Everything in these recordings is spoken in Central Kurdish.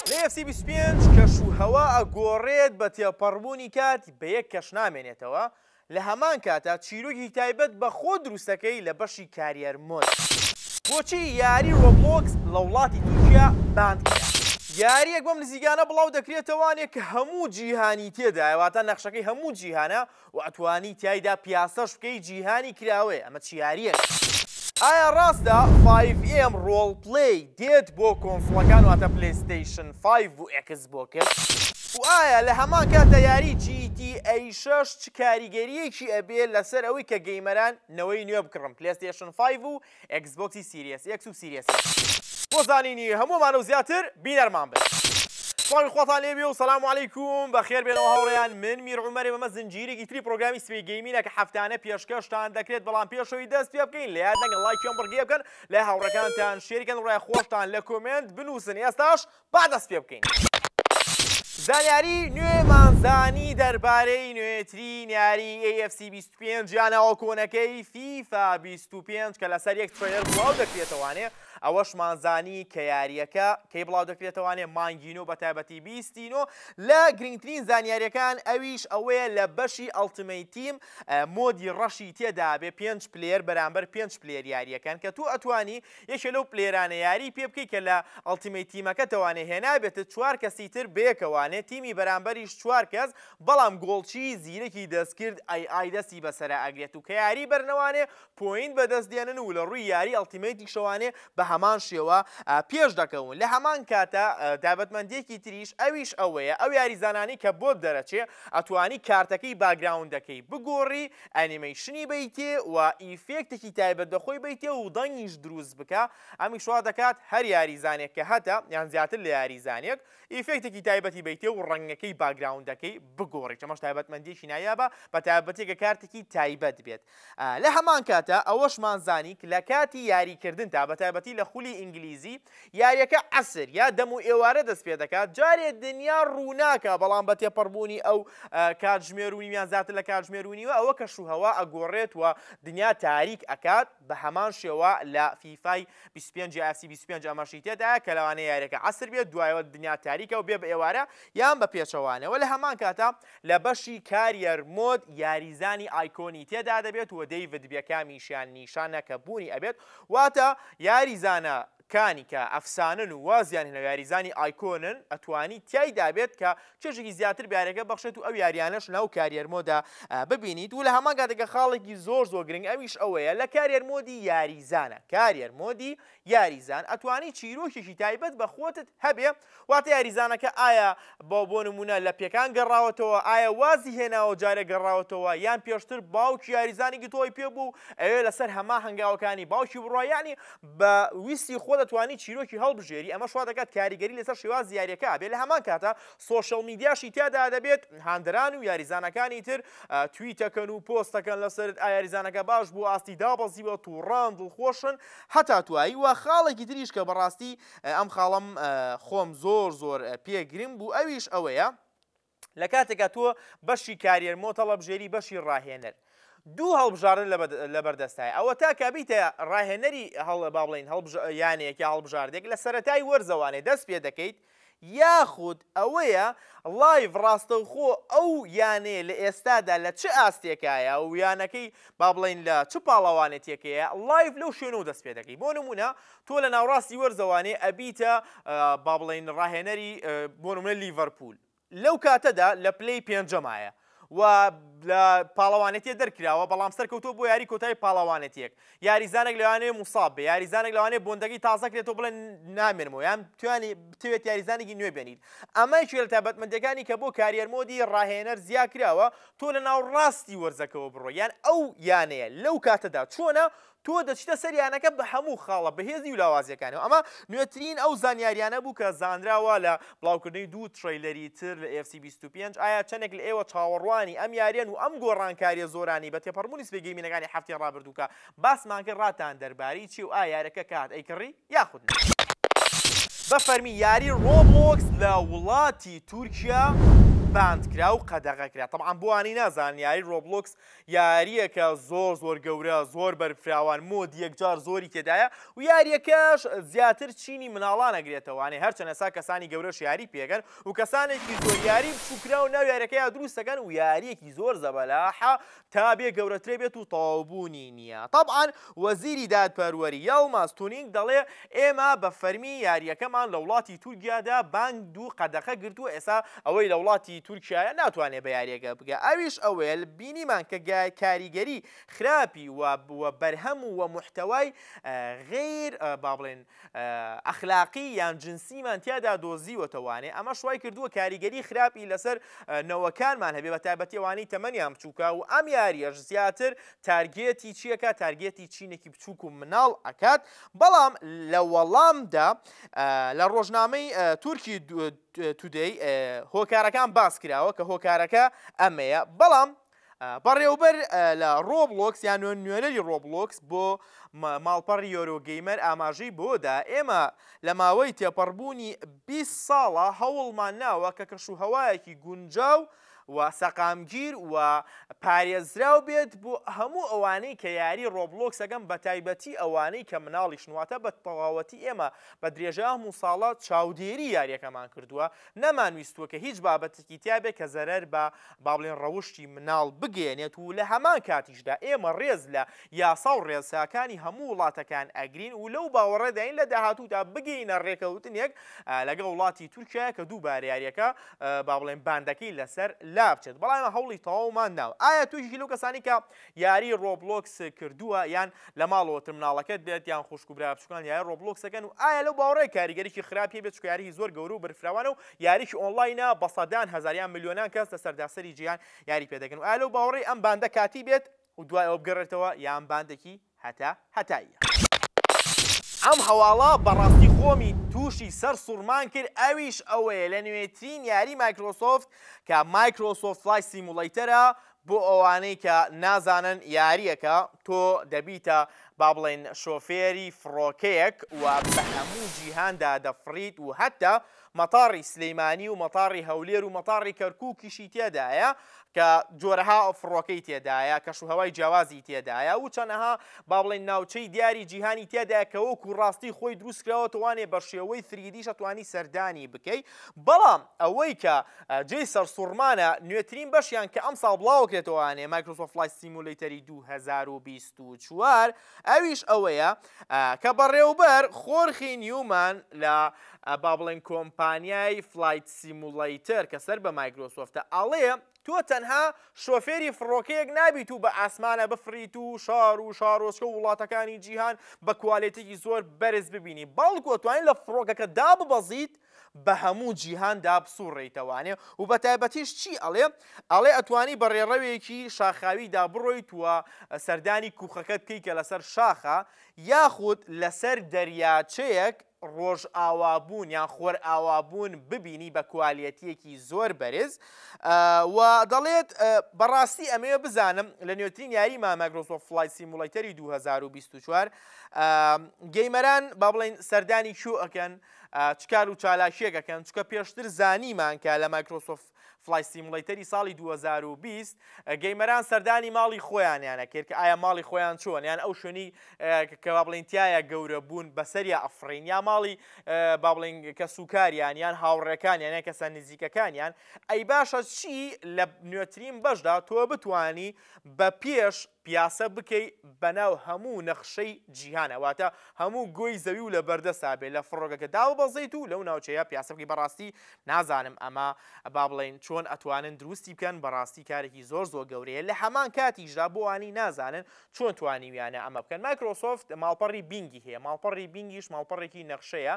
لە ئێف سی بیست و پێنج کەش و هەوا ئەگۆڕێت بە تێپەڕبوونی کات بە یەک کەش نامێنێتەوە لە هەمان کاتا چیرۆگێکی تایبەت بە خۆت دروست ئەکەی لە بەشی کاریەر مۆد. بۆچی یاری ڕۆبڵۆکس لە وڵاتی تورکیا باند کرا؟ یاریەک بەم نزیکانە بڵاو دەکرێتەوانێ کە هەموو جیهانی تێدایە واتا نەخشەکەی هەموو جیهانە و ئەتوانی تیایدا پیاسەش بکەی جیهانی کراوەیە ئەمە چ یاریەکە. ئایا ڕاستە فایڤ ئێم ڕۆڵ پلەی دێت بۆ کۆنسڵەکان واتە پلەیستەیشن فایڤ و ئێکس بۆکس؟ و ئایا لە هەمان کاتدا یاری جی تی ئەی شەش چ کاریگەریەکی ئەبێ لەسەر ئەوەی کە گەیمەران نەوەی نوێ بکڕن پلەیستەیشن فایڤ و ئێکسبۆکسی سیریەس ئێکس و سیریەس ئێکس. بۆ زانینی هەموومان و زیاتر بینەرمان بن. سڵاوی خواتان لێبێ و سەلام و علیکم بەخێر بێنەوە هاوڕێیان من میر عومەرێم ئەمە زنجیرێکی تری پڕۆگرامی سبەی گەیمینە کە هەفتانە پێشکەشتان دەکرێت بەڵام پێش ئەوی دەست پێ بکەین لە یاد نەکەن ڵایکی ئەم بڕگەیە بکەن لای هاوڕێکانتان شێری کەن ڕای خۆشتان لە کۆمێنت بنووسن ئێستاش با دەست پێ بکەین. زانیاری نوێمان زانی دەربارەی نوێترین یاری AFC 25 یانە ئەوە کۆنەکەی فیفا 25 کە لەسەر یەک ترەیەر بڵاو دەکرێتەوانێ ئەوەشمان زانی کە یاریەکە کەی بڵاو دەکرێتەوانێ مانگین و بە تایبەتی بیستین و لە گرنگترین زانیاریەکان ئەویش ئەوەیە لە بەشی ئەڵتمەیتیم مۆدی ڕەشی تێدابێ پێنج پلێر بەرامبەر پێنج پلێر یاریەکان کە تو ئەتوانی یەکێ لەو پلەیرانە یاری پێ بکەی کە لە ئەڵتیمەیت تیمەکەتەوانێ هێنابێتت چوار کەسی تر بەیەکەوانێ تیمی بەرامبەریش چوار کەس بەڵام گۆڵچی زیرەکی دەستکرد ئای ئای دەستی بەسەرا ئەگرێت و کە یاری بەرنەوانێ پۆینت بەدەست دێنن و لەڕووی یاری ئەڵتیمەیتیشەوانێ بەهەمان شێوە پێش دەکەون لە هەمان کاتا تایبەتمەندیەکی تریش ئەویش ئەوەیە ئەو یاریزانانەی کە بۆت دەرەچێ ئەتوانی کارتەکەی باگراوندەکەی بگۆڕی ئەنیمەیشنی بەیتێ و ئیفێکتێکی تایبەت بە خۆی بەیتێ و دەنگیش دروست بکە، ئەمیش وا دەکات هەر یاریزانێک کە هەتە یان زیاتر لە یاریزانێک ئیفێکتێکی تایبەتی بەیتێ و ڕەنگەکەی باکگراوندەکەی بگۆڕیت ئەمەش تایبەتمەندیەکی نایابە بە تایبەتی گە کارتێکی تایبەت بێت لە هەمان کاتا ئەوەشمان زانیک لە کاتی یاریکردنتا بە تایبەتی لە خولی ئینگلیزی یاریەکە عەسر یا دەم و ئێوارە دەست پێ دەکات جارێ دنیا ڕووناکە بەڵام بە تێپەڕبوونی ئەو کاتژمێر و نیویان زیاتر لە کاتژمێر و نیوە ئەوە کەش و هەوا ئەگۆڕێت و دنیا تاریک ئەکات بە هەمان شێوە لە فیفای 25 یاسی 25 ئەمەشی تێدایە کە لەوانەیە یاریەکە عەسر بێت دوایەوە دنیا تاریکە و بێ بە ئێوارە یان بە پێچەوانەوە لە هەمان کاتە لە بەشی کاریەر مۆد یاریزانی ئایکۆنی تێدا دەبێت و دەیڤد بێکامیشیان نیشانە کە بوونی ئەبێت واتە یاری زانە کانی کە ئەفسانەن و وازیان هێناوە یاریزانی ئایکۆنن ئەتوانی تیایدا بێت کە چێژێکی زیاتر بە یاریەکە بەخشێت و ئەو یاریانەش ناو کاریەر مۆدا ببینیت و لە هەمان کاتێکە خاڵێکی زۆر زۆر گرنگ ئەویش ئەوەیە لە کاریەر مۆدی یاریزانە کاریەر مۆدی یاریزان ئەتوانی چیرۆکێکی تایبەت بە خۆتت هەبێ واتە یاریزانەکە ئایا بە بۆ نموونە لە پێکان گەڕاوەتەوە، ئایا وازی هێناوە و جارێ گەڕاوەتەوە، یان پێشتر باوکی یاریزانی گتۆی پێ بوو و ئەوێ لەسەر هەمان هەنگاوەکانی باوکی بڕا، یانی بە ویستی خۆ دەتوانی چیرۆکی هەڵبژێری، ئەمەش وا دەکات کاریگەری لەسەر شێوازی یارییەکە هەبێت، لە هەمان کاتە سۆشیاڵ میدیاشی تیادا دەبێت، هاندەران و یاریزانەکانی تر تویتەکەن و پۆستەکەن لەسەرت، ئایا یاریزانەکە باش بوو، ئاستی دابەزیوە، تووڕەن، دڵخۆشن، هەتا توایی و خاڵێکی تریش کە بەڕاستی ئەم خاڵەم خۆم زۆر زۆر پێ گرنگ بوو ئەویش ئەوەیە لە کاتێکا تۆ بەشی کاریەر مۆتەڵەبژێری بەشی ڕاهێنەر دوو هەڵبژاردن لەبەردەستای ئەوە تا کابیتە ڕاهێنەری هەڵە با بڵین یانەیەک یا هەڵبژاردێک لە سەتای وەرزەوانێ دەست پێ دەکەیت یاخود ئەوەیە لایڤ ڕاستەوخۆ ئەو یانەیە لە ئێستادا لە چ ئاستێکایە و یانەکەی با بڵین لە چ پاڵەوانێتیەکەیە لایڤ لەو شوێن و دەست پێ دەکەی بۆ نمونە تۆ لە ناوڕاستی وەرزە وانەیە ئەبیتە با بڵێین ڕاهێنەری بۆ نمونە لیڤەرپوول لەو کاتەدا لە پلەی پێنجەمایە و لە پاڵەوانێتیە دەرکراوە بەڵام سەرکەوتۆ بۆ یاری کۆتایی پاڵەوانێتیەک یاریزانێک لەوانەیە موساب بێ یاریزانێک لەوانێ بۆندەگی تازەکرێتەوە بڵێن نامێنمەوە یان توانی بتوێت یاریزانێکی نوێ بێنیت ئەمە یەکێ لە تایبەتمەندەکانی کە بۆ کاریەر مۆدی ڕاهێنەر زیا کراوە تۆ لە ناو ڕاستی وەرزەکەەوە بڕۆ یان ئەو یانەیە لەو کاتەدا چۆنە تۆ دەچیتە سەر یانەکە بە هەموو خاڵە بەهێزی و لاوازییەکانیەوە، ئەمە نوێترین ئەو زانیاریانە بوو کە زانراوە لە بڵاوکردنەوەی دوو ترەیلەری تر لە ئێف سی بیست و پێنج، ئایا چەندێک لە ئێوە چاوەڕوانی ئەم یاریەن و ئەم گۆڕانکاریە زۆرانەی بە تێپەڕبوونی سبەی گەیمینەکانی هەفتەی ڕابردوو کە باسمان کرد ڕاتان دەربارەی چیە و ئایا یارەکە کات ئەیکڕی یاخود نا؟ بە فەرمی یاری ڕۆبڵۆکس لە وڵاتی تورکیا باند کرا و قەدەغە کرا تەبعەن بۆ ئەوانەی نازانن یاری ڕۆبڵۆکس یاریەکە زۆر زۆر گەورە زۆر بەرفراوان مۆدی یەکجار زۆری تێدایە و یاریەکەش زیاتر چینی مناڵان ئەگرێتەوانێ هەرچەن ئەسا کەسانی گەورەش یاری پێکەن و کەسانێکی زۆر یاری بچوکراو ناو یاریەکەیا دروستەکەن و یاریەکی زۆر زەبەلاحە تا بێ گەورەترێ بێت و تەواوبوونی نیە تەبعەن وەزیری دادپەروەری، یەڵماز تونینگ دەڵێ، ئێمە بە فەرمی یارییەکەمان لە وڵاتی تورکیادا بانگ دوو قەدەخە گرتووە، ئێستا ئەوەی لە وڵاتی تورکیایە ناتوانێ بە یارییەکە بگا، ئەویش ئەوەیە بینیمان کە کاریگەری خراپی و و بەرهەم و و موحتەوای غەیر با بڵێین ئەخلاقی یان جنسیمان تیادا دۆزیوەتە وانێ ئەمەش وای کردووە کاریگەری خراپی لەسەر نەوەکانمان هەبێ بە تایبەتی ئەوانەی تەمەنیان بچووکە و ئەم یارییەش زیاتر تارگێتی چی ئەکات تارگێتی چینێکی بچووک و مناڵ ئەکات بەڵام لە وەڵامدا لە ڕۆژنامەی تورکی تودەی هۆکارەکان باس کراوە کە هۆکارەکە ئەمەیە بەڵام بەڕێوبەر لە ڕۆبلۆکس یان نوێن نوێنەری ڕۆبلۆکس بۆ ماڵپەڕ یۆرۆگەیمەر ئاماژەی بۆدا ئێمە لە ماوەی تێپەڕبوونی 20 ساڵە هەوڵمان ناوە کە کەش و هەوایەکی گونجاو و و سەقامگیر و پارێزراو بێت بۆ هەموو ئەوانەی کە یاری ڕۆبڵۆکس ئەکەن بەتایبەتی ئەوانەی کە مناڵیشن واتە بە تەواوەتی ئێمە بە درێژای ئەم و ساڵە چاودێری یاریەکەمان کردووە نەمان ویستووە کە هیچ بابەتێکی تیا بێت کە زەرەر بە با بڵێن ڕەوشتی مناڵ بگەیەنێت و لە هەمان کاتیشدا ئێمە ڕێز لە یاسا و ڕێساکانی هەموو وڵاتەکان ئەگرین و لەو باوەڕێداین لە داهاتوودا بگەینە ڕێکەوتنێک لەگەڵ وڵاتی تورکیایە کە دووبارە یاریەکە با بڵێین باندەکەی لەسەر لابچێت بەڵام ئێمە هەوڵی تەواومان داوە ئایا توشی لەو کەسانی کە یاری ڕۆبلۆکس کردووە یان لە ماڵەوە ترمناڵەکەت بێت یان خوشک و برا بچووکان یاری ڕۆبلۆکسەکەن و ئایا لەو باوەڕێ کاریگەریی خراپی بێت چکە یاریی زۆر گەورە و بەرفراوانە و یاریی ئۆنلاینە بە سەدان هەزار یان ملیۆنان کەس لەسەر داسەری جیهان یاری پێ دەکەن و ئایا لەو باوەڕی ئەم باندە کاتی بێت و دوای ئەوە بگەڕێتەوە یان باندێکی هەتا هەتاییە. ئەم هەواڵە بەڕاستی خۆمی تووشی سەر سوڕمان کرد ئەویش ئەوەیە لە نوێترین یاری مایکرۆسۆفت کە مایکرۆسۆفت فلایت سیموڵەیتەرە بۆ ئەوانەی کە نازانن یاریەکە تۆ دەبیتە با بڵێین شۆفێری فڕۆکەیەک و بە هەموو جیهاندا دەفڕیت و هەتا مەتاڕی سلیمانی و مەتاڕی هەولێر و مەتاڕی کەرکوکیشی تێدایە کە جۆرەها فڕۆکەی تێدایە کەش و هەوای جیاوازی تێدایە و چەنەها با بڵێن ناوچەی دیاری جیهانی تێدایە کە وەکو ڕاستی خۆی دروست کراوە توانێ بە شێوەی فریدیشە توانی سەردانی بکەی بەڵام ئەوەی کە جێی سەرسوڕمانە نوێترین بەشیان کە ئەمساڵ بڵاوەکرێتەوەانێ مایکرۆسۆفت فلای سیمولەیتەری 2024 ئەویش ئەوەیە کە بەڕێوبەر خۆرخی نیومان لە با بڵێن کۆمپانیای فلایت سیموڵەیتەر کە سەر بە مایکرۆسۆفتە ئەڵێ تۆ تەنها شۆفێری فڕۆکەیەک نابیت و بە ئاسمانە بفریت و شار و شارۆچکە و وڵاتەکانی جیهان بە کوالێتێکی زۆر بەرز ببینی بەڵکو توانین لە فڕۆکەکە داببەزیت بە هەموو جیهان دا بسوڕێیتەوانێ و بە تایبەتیش چی ئەڵێ؟ ئەڵێ ئەتوانی بە ڕێڕەوێکی شاخاوی دا بڕۆیت و سەردانی کووخەکە بکەی کە لە سەر شاخە یاخود لە سەر دەریاچەیەک ڕۆژئاوابوون یان خۆرئاوابوون ببینی بە کوالیەتیەکی زۆر بەرز و دەڵێت بە ڕاستی ئەمەوێ بزانم لە نوێترین یاری ما مایکرۆسۆف فلای سیمولیتەری 2024 گەیمەران با بڵێن سەردانی کوێ ئەکەن چ کار و چالاکییەک ئەکەن، چونکە پێشتر زانیمان کە لە مایکرۆسۆفت فڵای سیموڵەیتەری ساڵی دوو هەزار و بیست گەیمەران سەردانی ماڵی خۆیانیان ئەکرد کە ئایا ماڵی خۆیان چۆن یان ئەو شوێنی کە با بڵێین تایە گەورە بوون بەسەریا ئەفڕین یا ماڵی با بڵێین کەس و کاریان یان هاوڕێکانیان یان کەسە نزیکەکانیان ئەی باشە چی لە نوێترین بەشدا تۆ بتانی بە پێش پیاسە بکەی بەناو هەموو نەخشەی جیهانا واتە هەموو گۆی زەوی و لەبەردەستا بێ لە فڕۆکەکە داببەزێیت و لەو ناوچەیە پیاسە بکەی بەڕاستی نازانم ئەمە با بڵێین چۆن ئەتوانن دروستی بکەن بەڕاستی کارێکی زۆر زۆر گەورەیە لە هەمان کاتیشدا بۆ ئەوانەی نازانن چۆن توانیویانە ئەمە بکەن مایکرۆسۆفت ماڵپەڕی بینگی هەیە ماڵپەڕی بینگیش ماڵپەڕێکی نەخشەیە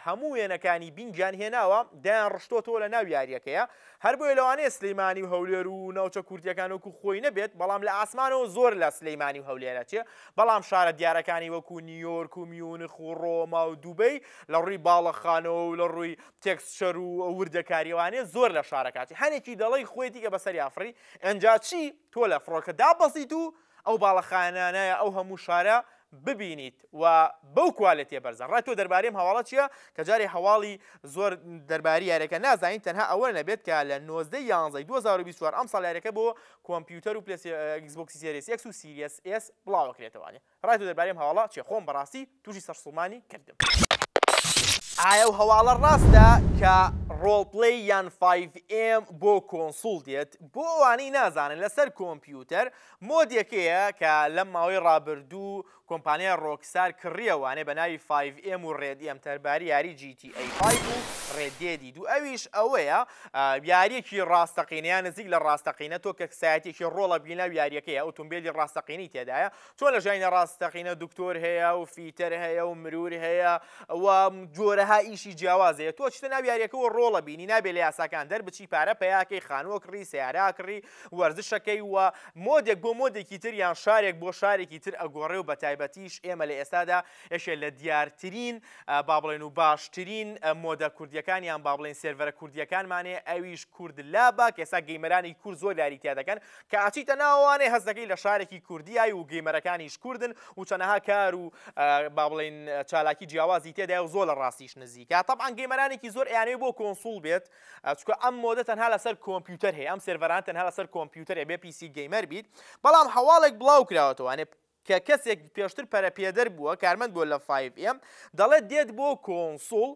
هەموو وێنەکانی بینگیان هێناوە دایان ڕشتۆتەوە لە ناو یاریەکەیە هەر بۆیە لەوانەیە سلیمانی و هەولێر و ناوچە کوردیەکان وەکو خۆی نەبێت بەڵام لە ئاسمانەوە زۆر لە سلیمانی و هەولێرە چێ بەڵام شارە دیارەکانی وەکو نیۆرک و میونخ و ڕۆما و دوبەی لە ڕووی باڵەخانەوە و لە ڕووی تێکسچەر و وردەکاریەوانێ زۆر لە شارەکاتی هەنێکی دەڵی خۆیتی کە بەسەری ئافری ئەنجا چی تۆ لە فڕۆکە دابەزیت و ئەو باڵەخانانایە ئەو هەموو شارە ببینیت و بەو کوالێتیە بەرزە ڕای تۆ دەربارەی ئەم هەواڵە چیە کە جارێ هەواڵی زۆر دەرباری یاریەکە نازانین تەنها ئەوە نەبێت کە لە نۆزدە ی یانزەی دوو هەزار و بیست و چوار ئەمساڵ یاریەکە بۆ کۆمپیوتەر و پلەیس ئێکس بۆکسی سێریس ئێکس و سیریەس ئێس بڵاوەکرێتەوە ڕای تۆ دەربارەی ئەم هەواڵە چیە خۆم بەڕاستی توشی سەرسوڕمانی کردم. ئایە ئەو هەواڵە ڕاستە کە ڕۆڵپلەی یان فایڤ ئێم بۆ کۆنسوڵ دێت؟ بۆ ئەوانەی نازانن لەسەر کۆمپیوتەر مۆدێکەیە کە لەم ماوەی ڕابردوو کۆمپانیای ڕۆکستار کڕیەوانێ بە ناوی فایڤ ئێم و ڕێد ئێم تەرباری یاری جی تی ئەی فایڤ و ڕێد دێدی دوو ئەویش ئەوەیە یاریەکی ڕاستەقینە یان نزیک لە ڕاستەقینە تۆ کەکسایەتیەکی ڕۆڵە بینە و یاریەکەیە ئۆتۆمبێلی ڕاستەقینەی تێدایە چۆن لە ژیانی ڕاستەقینە دکتۆر هەیە و فیتەر هەیە و مرور هەیە و جۆرەها ئیشی جیاوازەیە تۆ چتە ناو یاریەکەەوە ڕۆڵە بینی نابێ لە یاساکان دەربچی پارە پیاکەی خانووە کڕی سیاراکڕی وەرزشەکەی و مۆدێک بۆ مۆدێکی تر یان شارێک بۆ شارێکی تر ئەگۆڕێ و بە تایبەتیش ئێمە لە ئێستادا یەکێ لە دیارترین با بڵێن و باشترین مۆدە کوردیەکان یان با بڵێن سێرڤەرە کوردیەکانمانێ ئەویش کورد لابا کێسا گەیمەرانی کورد زۆر لاری تیا دەکەن کە ئەچیتە ناوەوانێ هەست دەکەی لە شارێکی کوردیای و گەیمەرەکانیش کوردن و چەنەها کار و با بڵێین چالاکی جیاوازی تێدای و زۆر لە ڕاستیش نزیکە تەبعان گەیمەرانێکی زۆر ئەیانەوێ بۆ کۆنسوڵ بێت چکە ئەم مۆدە تەنها لەسەر کۆمپیوتەر هەیە ئەم سێرڤەران تەنها لەسەر کۆمپیوتەرێ بێ پیسی گەیمەر بیت بەڵام هەواڵێک بڵاو کراوەتەوە کە کەسێک پێشتر پەرەپێدەر بووە، کارمەند بووە لە فایڤ ئێم، دەڵێت دێت بۆ کۆنسوڵ،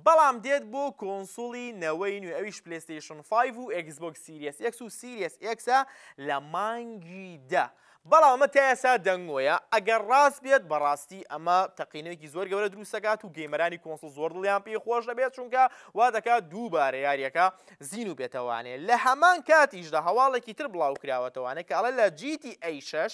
بەڵام دێت بۆ کۆنسوڵی نەوەی نوێ ئەویش پلەیستەیشن فایڤ و ئێکسبۆکس سیریەس ئێکس و سیریەس ئێکسە لە مانگی دە، بەڵام ئەمە تا ئێستا دەنگۆیە، ئەگەر ڕاست بێت بەڕاستی ئەمە تەقینەوەیەکی زۆر گەورە دروست دەکات و گەیمەرانی کۆنسوڵ زۆر دڵیان پێی خۆش دەبێت، چونکە وا دەکات دووبارە یاریەکە زیندوو بێتەوانێ، لە هەمان کاتیشدا هەواڵێکی تر بڵاوکراوەتەوانێ کە ئەڵێ لە جی تی ئەی شەش،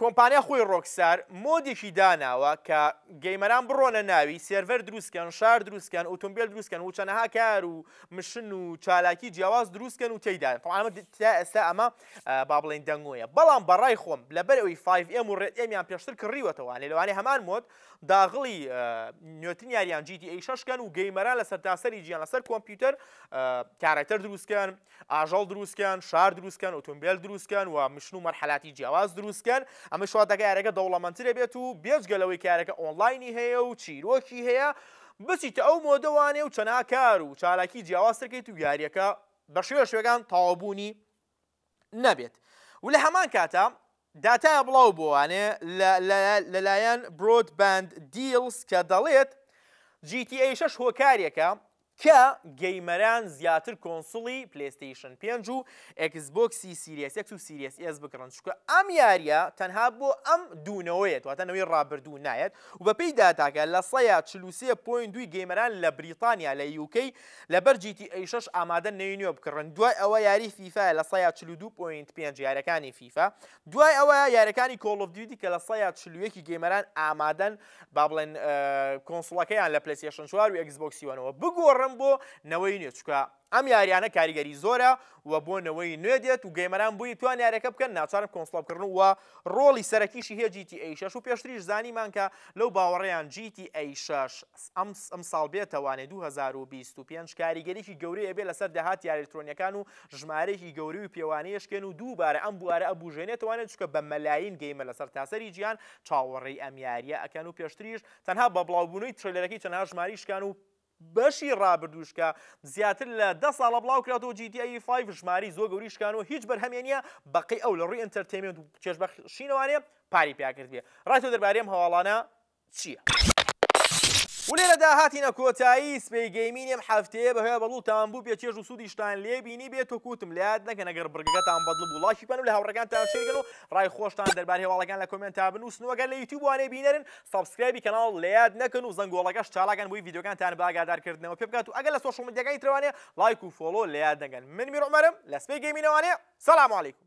کۆمپانیا خۆی ڕۆکستار مۆدێکی داناوە کە گەیمەران بڕۆنە ناوی سێرڤەر دروست کەن شار دروست کەن ئوتومبیل دروست کەن و چەنەها کار و مشن و چالاکی جیاواز دروست کەن و تێیدان تەوان ئەمە تا ئێستا ئەمە با بڵێین دەنگۆیە بەڵام بەڕای خۆم لەبەر ئەوی فایڤ ئێم و ڕێد ئێمیان پێشتر کڕیوەتەوە لێ لەوانەیە هەمان مۆد داغڵی نوێترین یاریان جی تی ئەی شەش کەن و گەیمەران لە سەرتاسەری جیان لەسەر کۆمپیوتەر کارەکتەر دروست کەن ئاژەڵ دروستکەن، شار دروستکەن، ئۆتۆمبێل دروستکەن و مشن و مەرحەلاتی جیاواز دروستکەن، ئەمەش وا دەکات یارەکە دەوڵەمەندتر بێت و بێجگە لەوەی کە یارەکە ئۆنڵاینی هەیە و چیرۆکی هەیە، بچیتە ئەو مۆدەوانەی و چەناا کار و چالاکی جیاوازتر کەیت و یاریەکە بەشێوە شێوەکان تەواوبوونی نەبێت و لە هەمان کاتا داتایە بڵاو بۆوانێ لەلایەن برۆد باند دیلز کە دەڵێت GTA 6 هۆکارێکە کە گەیمەران زیاتر کۆنسوڵی پلەیستەیشن پێنج و ئێکس بۆکسی سیریەس ئێکس و سیریەس ئێس بکڕن چونکە ئەم یاریە تەنها بۆ ئەم دوو نەوەیەت واتە نەوەی ڕابردوو نایەت و بەپێی داتاکە لە سەیا چل و سێ پۆینت دووی گەیمەران لە بریتانیا لە یوکەی لەبەر جی تی ئەی شەش ئامادەن نەوی نوێ بکڕن دوای ئەوە یاری فیفایە لە سەیا چل و دوو پۆینت پێنج یارەکانی فیفا دوای ئەوە یارەکانی کۆڵ ئۆف دیوتی کە لە سەیا چل و یەکی گەیمەران ئامادەن با بڵێن کۆنسڵەکەیان لە پلەسیشن چوار و ئەکسبۆکسی وەنەوە بگۆڕم بۆ نەوەی نوێ چکە ئەم یاریانە کاریگەری زۆرە و بۆ نەوەی نوێ دێت و گەیمەران بووی توان یارەکە بکەن ناچارن کۆنسڵبکردن و ڕۆڵی سەرەکیشی هەیە جیتی ئەی شەش و پێشتریش زانیمان کە لەو باوەڕیان جیتی ئەی شەش ئەم ئەم ساڵ بێتەوانێ 2025 کاریگەریی گەورەیە بێ لەسەر داهات یاریلکترۆنیەکان و ژمارەیەکی گەوری و پێوانەیەشکێن و دووبارە ئەم بوارە ئەبوژێنێتوانێت چکە بە مەلایین گەیمە لەسەر تاسەری جیان چاوەڕێی ئەم یاریە ئەکەن و پێشتریش تەنها بە بڵاوبوونەوەی ترەیلەرەکەی چەنها ژماری شکان و بەشی ڕابردووش کە زیاتر لە دە ساڵە بڵاو کراتەوە جی تی ای 5 ژماری زۆر گەوری شکان و هیچ بەرهەمێ نییە بەقەی ئەو لە ڕووی ئەنتەرتەیمێنت و چێژبەخشینەوانێ پاری پیاکرد بێ ڕای تۆ دەربارەی ئەم هەواڵانە چییە؟ ولێرەدا هاتینە کۆتایی سپی گەیمینی ئەم هەفتەیە بەهۆیە بەڵوتان بوو بێ چێژ و سوودیشتان لێ بینی بێت و کوتم لە یاد نەکەن ئەگەر بڕگەکەتان بەدڵ بوو ڵایکی بکەن و لە هاوڕێکانتان شێرکەن و ڕای خۆشتان دەربارەی هەواڵەکان لە کۆمێنتا بنووسن و ئەگەر لە یوتیوب وانەی بینەرن سەبسکرایبی کەناڵ لە یاد نەکەن و زەنگۆڵەکەش چالاکەن بۆی ڤیدیۆکانتان بە ئاگادارکردنەوە پێ بکات و ئەگەر لە سۆشیاڵ میدیاکانی ترەوانێ لایک و فۆڵۆ لە یاد نەگەن من میر عومەرم لە سپی گەیمینەوانێ سەلام علیکم